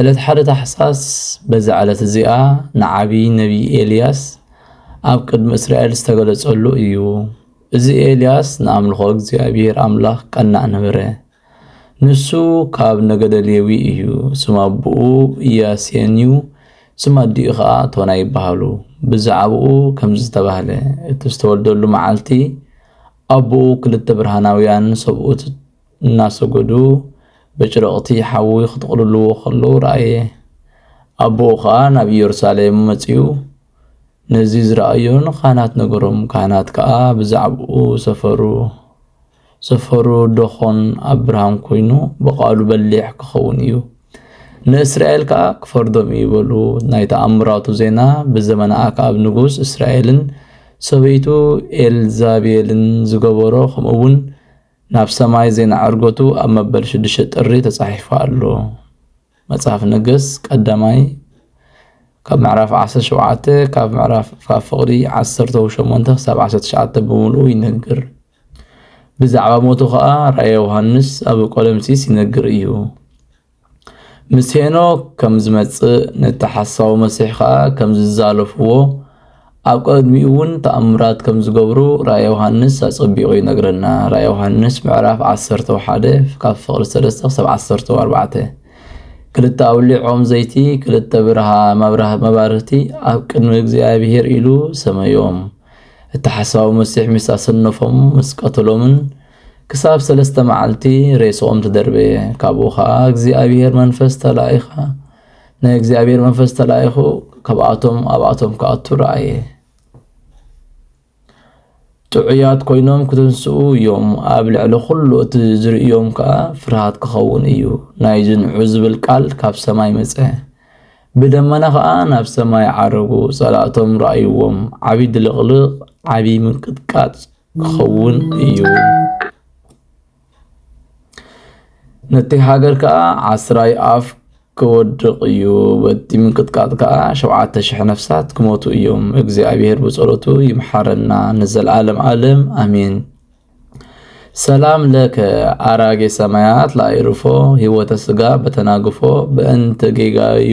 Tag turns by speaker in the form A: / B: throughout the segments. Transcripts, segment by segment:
A: ዕለት ሓደ ታሕሳስ በዛ ዕለት እዚኣ ንዓብዪ ነቢይ ኤልያስ ኣብ ቅድሚ እስራኤል ዝተገለጸሉ እዩ። እዚ ኤልያስ ንኣምልኾ እግዚኣብሔር ኣምላኽ ቀናእ ነበረ። ንሱ ካብ ነገደ ሌዊ እዩ። ስም ኣቦኡ ኢያሴን እዩ፣ ስም ኣዲኡ ኸዓ ቶና ይበሃሉ። ብዛዕባኡ ከምዚ ዝተባህለ እቲ ዝተወልደሉ መዓልቲ ኣቦኡ ክልተ ብርሃናውያን ሰብኡት እናሰገዱ በጭረቕቲ ሓዊ ክጥቕልልዎ ከለዉ ረኣየ። ኣቦኡ ኸኣ ናብ ኢየሩሳሌም መጺኡ ነዚ ዝረኣዮ ንካህናት ነገሮም፣ ካህናት ከኣ ብዛዕባኡ ሰፈሩ። ሰፈሩ ደኾን ኣብ ብርሃን ኮይኑ ብቓሉ በሊሕ ክኸውን እዩ፣ ንእስራኤል ከኣ ክፈርዶም እዩ በሉ። ናይ ተኣምራቱ ዜና ብዘመነ ኣክኣብ ንጉስ እስራኤልን ሰበይቱ ኤልዛቤልን ዝገበሮ ከምኡውን ናብ ሰማይ ዜና ዕርገቱ ኣብ መበል ሽዱሽተ ጥሪ ተጻሒፉ ኣሎ። መጽሓፍ ነገስት ቀዳማይ ካብ ምዕራፍ ዓሰርተ ሸውዓተ ካብ ምዕራፍ ካብ ፍቕዲ ዓሰርተው ሸሞንተ ክሳብ ዓሰርተ ትሽዓተ ብምልኡ ይነግር። ብዛዕባ ሞቱ ኸኣ ራእየ ዮሃንስ ኣብ ቆለምሲስ ይነግር እዩ። ምስ ሄኖክ ከም ዝመጽእ ነቲ ሓሳዊ መሲሕ ከኣ ከም ዝዛለፍዎ ኣብ ቀድሚኡ እውን ተኣምራት ከም ዝገብሩ ራእይ ዮሃንስ ኣጸቢቑ ይነግረና። ራእይ ዮሃንስ ምዕራፍ ዓሰርተ ሓደ ካብ ፍቕሪ ሰለስተ ክሳብ ዓሰርተ ኣርባዕተ ክልተ ኣውሊዕ ኦም ዘይቲ ክልተ ብርሃ መባርህቲ ኣብ ቅድሚ እግዚኣብሄር ኢሉ ሰመዮም። እቲ ሓሳዊ መሲሕ ምስ ኣሰነፎም ምስ ቀተሎምን ክሳብ ሰለስተ መዓልቲ ሬስኦም ተደርበየ። ካብኡ ኸኣ እግዚኣብሄር መንፈስ ተላኢኻ ናይ እግዚኣብሄር መንፈስ ተላኢኹ ካብኣቶም ኣብኣቶም ክኣቱ ረኣየ። ጥዑያት ኮይኖም ክትንስኡ እዮም፣ ኣብ ልዕሊ ዅሉ እቲ ዝርእዮም ከኣ ፍርሃት ክኸውን እዩ። ናይ ዝንዑ ዝብል ቃል ካብ ሰማይ መጸ። ብደመና ኸኣ ናብ ሰማይ ዓረጉ፣ ጸላእቶም ረኣይዎም፣ ዓብዪ ድልቕልቕ፣ ዓብዪ ምንቅጥቃጥ፣ ክኸውን እዩ። ነቲ ሃገር ከኣ ዓስራይ ኣፍ ክወድቕ እዩ። በቲ ምንቅጥቃጥ ከኣ ሸውዓተ ሽሕ ነፍሳት ክሞቱ እዮም። እግዚኣብሔር ብጸሎቱ ይምሓረና ንዘለዓለም ዓለም ኣሜን። ሰላም ለከ ኣራጌ ሰማያት ለኣይርፎ ህይወተ ስጋ በተናግፎ በእንተ ጌጋዩ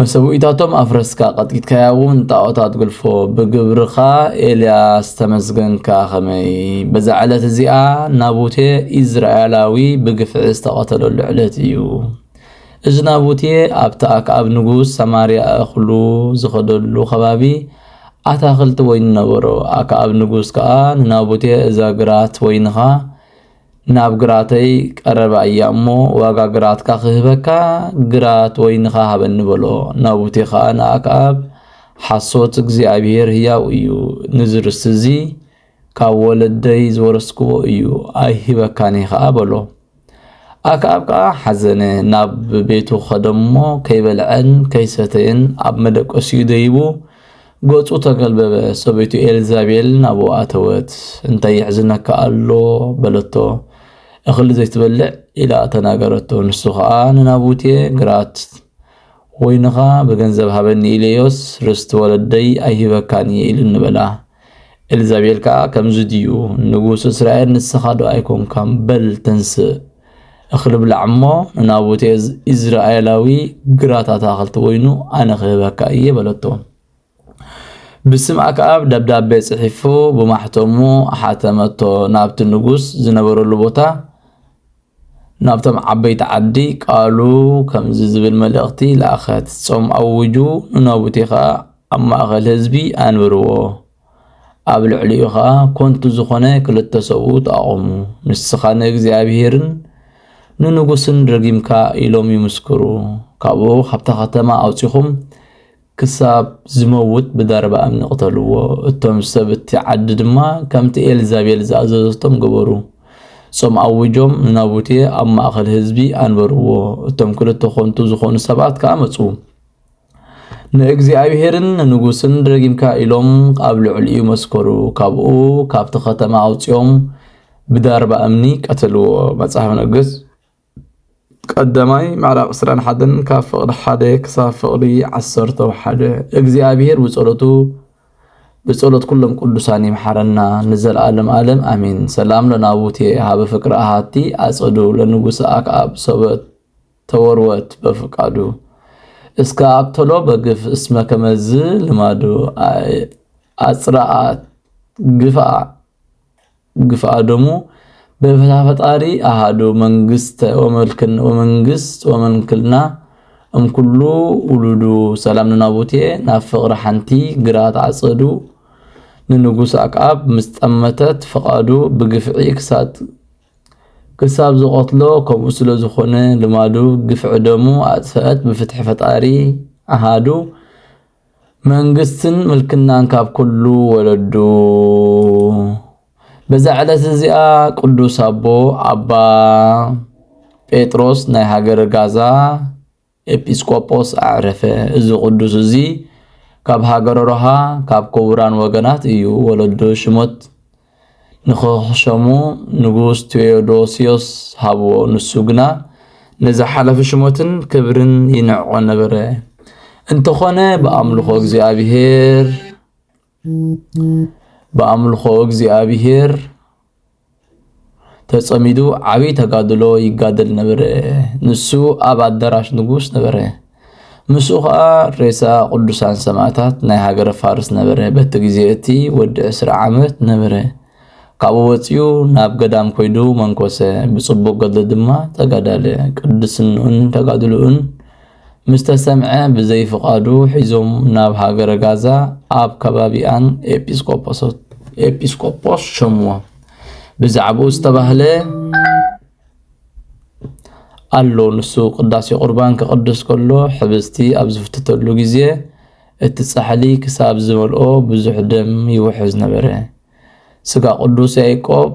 A: መሰውኢታቶም ኣፍረስካ ቀጥቂጥካያ እውን ጣዖታት ግልፎ ብግብርኻ ኤልያስ ተመስገንካ ኸመይ በዛ ዕለት እዚኣ ናቡቴ ኢዝራኤላዊ ብግፍዒ ዝተቐተለሉ ዕለት እዩ እዚ ናቡቴ ኣብቲ ኣክኣብ ንጉስ ሰማርያ እኽሉ ዝኸደሉ ከባቢ ኣታኽልቲ ወይኒ ነበሮ ኣክኣብ ንጉስ ከዓ ንናቡቴ እዛ ግራት ወይንኻ ናብ ግራተይ ቀረባ እያ እሞ ዋጋ ግራትካ ክህበካ ግራት ወይንኻ ሃበኒ በሎ። ናቡቴ ኸኣ ንኣክኣብ ሓሶት እግዚኣብሄር ህያው እዩ፣ ንዚ ርስቲ እዚ ካብ ወለደይ ዝወረስክዎ እዩ፣ ኣይህበካን እየ ኸኣ በሎ። ኣክኣብ ከኣ ሓዘነ፣ ናብ ቤቱ ኸደ እሞ ከይበልዐን ከይሰተየን ኣብ መደቀሲኡ ደይቡ ገጹ ተገልበበ። ሰበይቱ ኤልዛቤል ናብኡ ኣተወት። እንታይ የሕዝነካ ኣሎ? በለቶ። እኽሊ ዘይትበልዕ ኢላ ተናገረቶ። ንሱ ኸኣ ንናቡቴ ግራት ወይንኻ ብገንዘብ ሃበኒ ኢለዮስ ርስቲ ወለደይ ኣይህበካን እየ ኢሉ ንበላ። ኤልዛቤል ከኣ ከምዚ ድዩ ንጉስ እስራኤል ንስኻ ዶ ኣይኮንካም በል ተንስእ እኽሊ ብላዕ እሞ ንናቡቴ ኢዝራኤላዊ ግራት ኣታኽልቲ ወይኑ ኣነ ክህበካ እየ በለቶ። ብስም ኣክኣብ ደብዳቤ ጽሒፉ ብማሕተሙ ሓተመቶ ናብቲ ንጉስ ዝነበረሉ ቦታ ናብቶም ዓበይቲ ዓዲ ቃሉ ከምዚ ዝብል መልእኽቲ ለኣኸት ጾም ኣውጁ ንናቡቴ ኸኣ ኣብ ማእኸል ህዝቢ ኣንብርዎ ኣብ ልዕሊኡ ኸኣ ኮንቱ ዝኾነ ክልተ ሰብኡ ተኣቖሙ፣ ንስኻ ንእግዚኣብሄርን ንንጉስን ረጊምካ ኢሎም ይምስክሩ፣ ካብኡ ካብታ ከተማ ኣውጺኹም ክሳብ ዝመውት ብዳርባ እምኒ ቅተልዎ። እቶም ሰብ እቲ ዓዲ ድማ ከምቲ ኤልዛቤል ዝኣዘዘቶም ገበሩ። ጾም ኣዊጆም ንናቡቴ ኣብ ማእከል ህዝቢ ኣንበርዎ። እቶም ክልተ ኾንቱ ዝኾኑ ሰባት ከኣ መጹ። ንእግዚኣብሔርን ንንጉስን ረጊምካ ኢሎም ኣብ ልዕሊኡ መስከሩ። ካብኡ ካብቲ ከተማ ኣውፂኦም ብዳርባ እምኒ ቀተልዎ። መጽሓፍ ነገስት ቀዳማይ ምዕራፍ 21 ካብ ፍቕዲ ሓደ ክሳብ ፍቕዲ ዓሰርተ ሓደ እግዚኣብሔር ብጸሎቱ ብጸሎት ኩሎም ቅዱሳን ይምሓረና ንዘለዓለም ዓለም ኣሜን። ሰላም ለናቡቴ ሃበ ፍቅሪ ኣሃቲ ኣጸዱ ለንጉሰ ኣክኣብ ሰበት ተወርወት በፍቃዱ እስከ ኣቅተሎ በግፍ እስመ ከመዝ ልማዱ ኣጽረኣት ግፍኣ ግፍኣ ደሙ በፍታ ፈጣሪ ኣሃዱ መንግስተ ወመልክን ወመንግስት ወመንክልና እምኩሉ ውሉዱ ሰላም ንናቡቴ ናብ ፍቕሪ ሓንቲ ግራት ዓጸዱ ንንጉስ ኣክኣብ ምስ ጠመተት ፍቓዱ ብግፍዒ ክሳት ክሳብ ዝቀትሎ ከምኡ ስለ ዝኾነ ልማዱ ግፍዒ ደሙ ኣጥፈኣት ብፍትሒ ፈጣሪ ኣሃዱ መንግስትን ምልክናን ካብ ኩሉ ወለዱ በዛ ዕለት እዚኣ ቅዱስ ኣቦ ኣባ ጴጥሮስ ናይ ሃገረ ጋዛ ኤጲስቆጶስ ኣዕረፈ። እዚ ቅዱስ እዚ ካብ ሃገረ ሮሃ ካብ ክቡራን ወገናት እዩ። ወለዱ ሽሞት ንኽሸሙ ንጉስ ቴዎዶስዮስ ሃብዎ። ንሱ ግና ነዚ ሓላፊ ሽሞትን ክብርን ይንዕቆ ነበረ። እንተኾነ ብኣምልኾ እግዚኣብሔር ብኣምልኾ እግዚኣብሔር ተጸሚዱ ዓብይ ተጋድሎ ይጋደል ነበረ። ንሱ ኣብ ኣዳራሽ ንጉስ ነበረ። ምስኡ ከዓ ሬሳ ቅዱሳን ሰማዕታት ናይ ሃገረ ፋርስ ነበረ። በቲ ግዜ እቲ ወዲ ዕስራ ዓመት ነበረ። ካብኡ ወፂኡ ናብ ገዳም ኮይዱ መንኮሰ። ብፅቡቅ ገድሊ ድማ ተጋዳለ። ቅድስንኡን ተጋድልኡን ምስ ተሰምዐ ብዘይ ፍቓዱ ሒዞም ናብ ሃገረ ጋዛ ኣብ ከባቢኣን ኤጲስቆጶስ ሸምዎ ብዛዕባኡ ዝተባህለ ኣሎ ንሱ ቅዳሴ ቁርባን ክቕድስ ከሎ ሕብስቲ ኣብ ዝፍትተሉ ግዜ እቲ ጻሕሊ ክሳብ ዝመልኦ ብዙሕ ደም ይውሕዝ ነበረ ስጋ ቅዱስ ያዕቆብ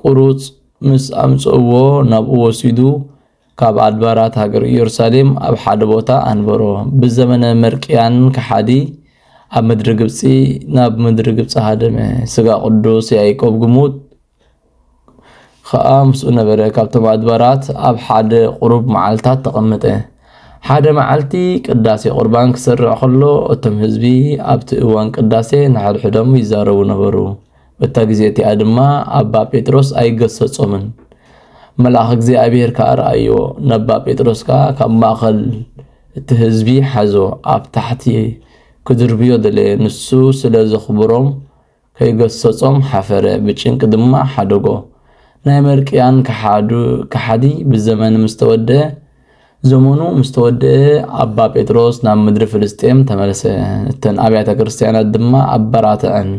A: ቍሩጽ ምስ ኣምጽእዎ ናብኡ ወሲዱ ካብ ኣድባራት ሃገር ኢየሩሳሌም ኣብ ሓደ ቦታ ኣንበሮ። ብዘመነ መርቅያን ከሓዲ ኣብ ምድሪ ግብጺ ናብ ምድሪ ግብጺ ሃደመ። ስጋ ቅዱስ ያዕቆብ ግሙት ኸኣ ምስኡ ነበረ። ካብቶም ኣድባራት ኣብ ሓደ ቁሩብ መዓልታት ተቐመጠ። ሓደ መዓልቲ ቅዳሴ ቁርባን ክስርዕ ከሎ እቶም ህዝቢ ኣብቲ እዋን ቅዳሴ ንሓድሕዶም ይዛረቡ ነበሩ። እታ ግዜ እቲኣ ድማ ኣባ ጴጥሮስ ኣይገሰጾምን። መልኣኽ እግዚኣብሔር ከኣ ረኣዮ፣ ነባ ጴጥሮስ ከኣ ካብ ማእከል እቲ ህዝቢ ሓዞ ኣብ ታሕቲ ክድርብዮ ደለየ፣ ንሱ ስለ ዘኽብሮም ከይገሰጾም ሓፈረ ብጭንቂ ድማ ሓደጎ። ናይ መርቅያን ከሓዱ ከሓዲ ብዘመን ምስ ተወደኣ ዘመኑ ምስ ተወደኣ ኣባ ጴጥሮስ ናብ ምድሪ ፍልስጤም ተመልሰ፣ እተን ኣብያተ ክርስቲያናት ድማ ኣበራተዐን።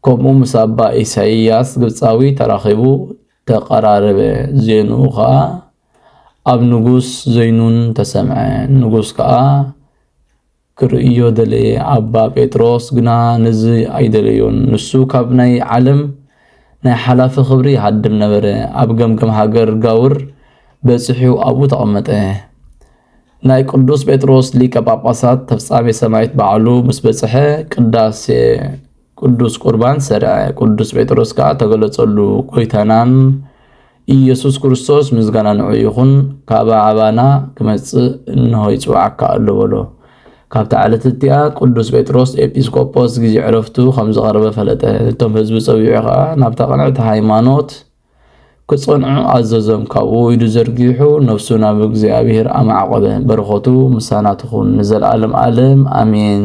A: ከምኡ ምስ ኣባ ኢሳይያስ ግብጻዊ ተራኺቡ ተቐራረበ፣ ዜንኡ ኸኣ ኣብ ንጉስ ዘይኑን ተሰምዐ፣ ንጉስ ከኣ ክርእዮ ደለየ ኣባ ጴጥሮስ ግና ነዚ ኣይደለዮን ንሱ ካብ ናይ ዓለም ናይ ሓላፊ ክብሪ ይሃድም ነበረ ኣብ ገምገም ሃገር ጋውር በጺሑ ኣብኡ ተቐመጠ ናይ ቅዱስ ጴጥሮስ ሊቀ ጳጳሳት ተፍጻሜ ሰማይት ባዕሉ ምስ በጽሐ ቅዳሴ ቅዱስ ቁርባን ሠርዐ፣ ቅዱስ ጴጥሮስ ከኣ ተገለጸሉ፣ ጐይታናም ኢየሱስ ክርስቶስ ምስጋና ንዑ ይኹን ካብ ኣባና ክመጽእ እንሆ ይጽውዓካ ኣሎ በሎ። ካብታ ዕለት እቲኣ ቅዱስ ጴጥሮስ ኤጲስቆጶስ ጊዜ ዕረፍቱ ከም ዝቐረበ ፈለጠ። እቶም ህዝቢ ጸዊዑ ኸኣ ናብታ ቅንዕቲ ሃይማኖት ክጸንዑ ኣዘዞም ካብኡ ኢዱ ዘርጊሑ ነፍሱ ናብ እግዚኣብሔር ኣማዕቆበ በረኸቱ ምሳና ትኹን ንዘለዓለም ዓለም ኣሜን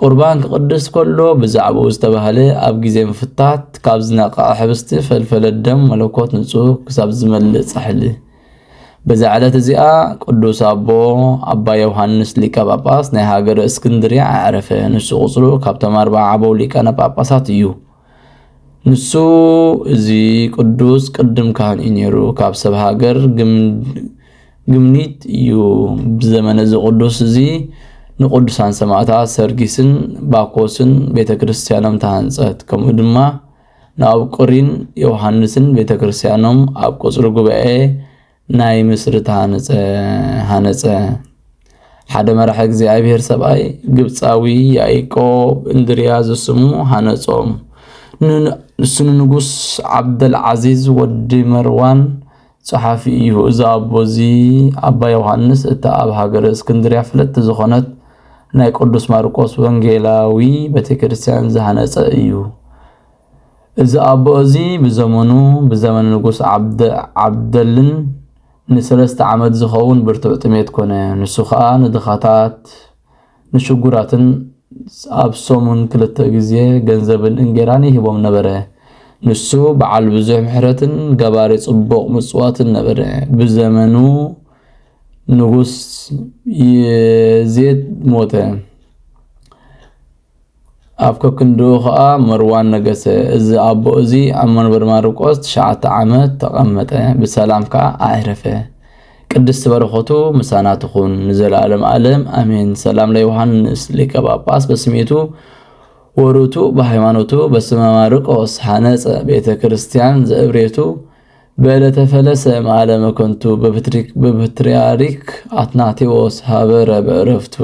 A: ቁርባን ክቕድስ ከሎ ብዛዕባኡ ዝተባህለ ኣብ ግዜ ምፍታት ካብ ዝነቐዐ ሕብስቲ ፈልፈለ ደም መለኮት ንጹህ ክሳብ ዝመልእ ጻሕሊ በዛ ዕለት እዚኣ ቅዱስ ኣቦ ኣባ ዮሃንስ ሊቀ ጳጳስ ናይ ሃገረ እስክንድርያ ኣዕረፈ። ንሱ ቁጽሩ ካብቶም ኣርባዓ ዓበው ሊቃነ ጳጳሳት እዩ። ንሱ እዚ ቅዱስ ቅድም ካህን እዩ ነይሩ። ካብ ሰብ ሃገር ግምኒት እዩ ብዘመነ እዚ ቅዱስ እዚ ንቅዱሳን ሰማእታት ሰርጊስን ባኮስን ቤተ ክርስቲያኖም ተሃንጸት። ከምኡ ድማ ንኣብቁሪን ዮሃንስን ቤተ ክርስቲያኖም ኣብ ቁጽሪ ጉባኤ ናይ ምስርት ሃነፀ ሃነፀ ሓደ መራሒ እግዚኣብሔር ሰብኣይ ግብፃዊ ያዕቆብ እንድርያ ዝስሙ ሃነጾም ንሱ ንንጉስ ዓብደል ዓዚዝ ወዲ መርዋን ጸሓፊ እዩ። እዚ ኣቦ እዚ ኣባ ዮሃንስ እታ ኣብ ሃገረ እስክንድርያ ፍለቲ ዝኾነት ናይ ቅዱስ ማርቆስ ወንጌላዊ ቤተክርስትያን ዝሃነጸ እዩ። እዚ ኣቦ እዚ ብዘመኑ ብዘመነ ንጉስ ዓብደ ዓብደልን ንሰለስተ ዓመት ዝኸውን ብርቱዕ ጥሜት ኮነ። ንሱ ኸኣ ንድኻታት ንሽጉራትን ኣብ ሰሙን ክልተ ግዜ ገንዘብን እንጌራን ይህቦም ነበረ። ንሱ በዓል ብዙሕ ምሕረትን ገባሪ ጽቡቕ ምጽዋትን ነበረ። ብዘመኑ ንጉስ የዜድ ሞተ። ኣብ ከክንድኡ ኸኣ መርዋን ነገሰ። እዚ ኣቦ እዚ ኣብ መንበር ማርቆስ ትሽዓተ ዓመት ተቐመጠ፣ ብሰላም ከኣ ኣዕረፈ። ቅድስቲ በረኸቱ ምሳና ትኹን ንዘለዓለም ኣለም ኣሜን። ሰላም ለዮሃንስ ሊቀ ጳጳስ በስሜቱ ወሩቱ በሃይማኖቱ በስመ ማርቆስ ሓነጸ ቤተ ክርስቲያን ዘእብሬቱ በዕለተ ፈለሰ መዓለ መከንቱ በፕትርያርክ ኣትናቴዎስ ሃበረ በዕረፍቱ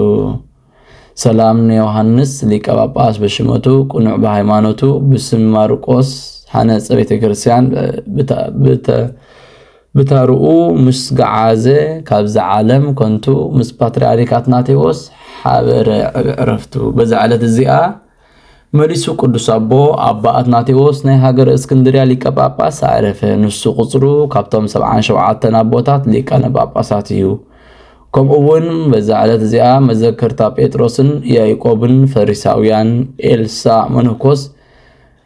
A: ሰላም ንዮሃንስ ሊቀ ጳጳስ በሽመቱ ቅኑዕ ብሃይማኖቱ ብስም ማርቆስ ሓነጸ ቤተ ክርስቲያን ብተርኡ ምስ ገዓዘ ካብዚ ዓለም ኮንቱ ምስ ፓትርያርክ ኣትናቴዎስ ሓበረ ዕረፍቱ በዛ ዕለት እዚኣ መሊሱ ቅዱስ ኣቦ ኣባ ኣትናቴዎስ ናይ ሃገረ እስክንድርያ ሊቀ ጳጳስ ኣዕረፈ። ንሱ ቁጽሩ ካብቶም ሰብዓን ሸውዓተን ኣቦታት ሊቃነ ጳጳሳት እዩ። ከምኡ እውን በዛ ዕለት እዚኣ መዘከርታ ጴጥሮስን ያዕቆብን ፈሪሳውያን ኤልሳ መነኮስ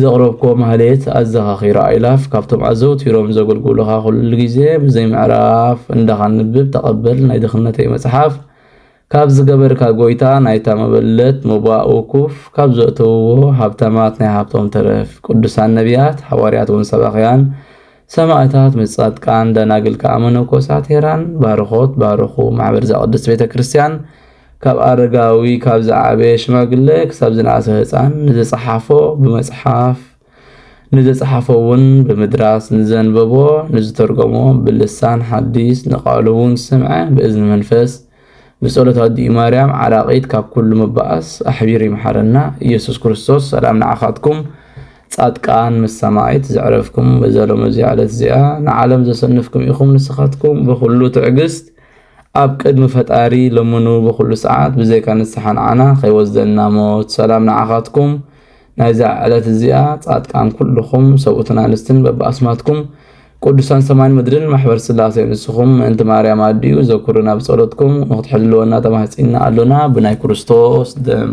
A: ዘቕረብኩዎ ማህሌት ኣዘኻኺራ ኣእላፍ ካብቶም ኣዘውቲሮም ዘገልግሉኻ ኩሉ ግዜ ብዘይ ምዕራፍ እንዳ ካንብብ ተቐበል ናይ ድኽነተይ መጽሓፍ ካብ ዝገበርካ ጎይታ ናይታ መበለት ሞባእ ውኩፍ ካብ ዘእተውዎ ሃብታማት ናይ ሃብቶም ተረፍ ቅዱሳን ነብያት ሓዋርያት ውን ሰባኽያን ሰማእታት ምስ ጻድቃን ደናግል ከኣ መነኮሳት ሄራን ባርኾት ባርኹ ማሕበር ዘቅድስት ቤተ ክርስቲያን ካብ ኣረጋዊ ካብ ዝዓበየ ሽማግለ ክሳብ ዝነኣሰ ህፃን ንዝጸሓፎ ብመጽሓፍ ንዘጸሓፎ እውን ብምድራስ ንዘንበቦ ንዝተርጎሞ ብልሳን ሓዲስ ንቃሉ እውን ዝሰምዐ ብእዝኒ መንፈስ ብጸሎት ኣዲኡ ማርያም ዓራቂት ካብ ኩሉ ምባኣስ ኣሕቢሩ ይምሓረና ኢየሱስ ክርስቶስ ሰላም ንዓካትኩም ጻድቃን ምስ ሰማዒት ዘዕረፍኩም በዛ ሎሚ እዚኣ ዕለት እዚኣ ንዓለም ዘሰንፍኩም ኢኩም ንስካትኩም ብኩሉ ትዕግስት ኣብ ቅድሚ ፈጣሪ ለምኑ ብኩሉ ሰዓት ብዘይካ ንስሓ ንዓና ከይወስደና ሞት ሰላም ንዓካትኩም ናይዛ ዕለት እዚኣ ጻድቃን ኩሉኹም ሰብኡትን ኣንስትን በብኣስማትኩም ቅዱሳን ሰማይን ምድርን ማሕበር ስላሴ ንስኹም ምእንቲ ማርያም ኣዲኡ ዘኩሩና ብጸሎትኩም ንክትሕልወና ተማህጺና ኣሎና ብናይ ክርስቶስ ደም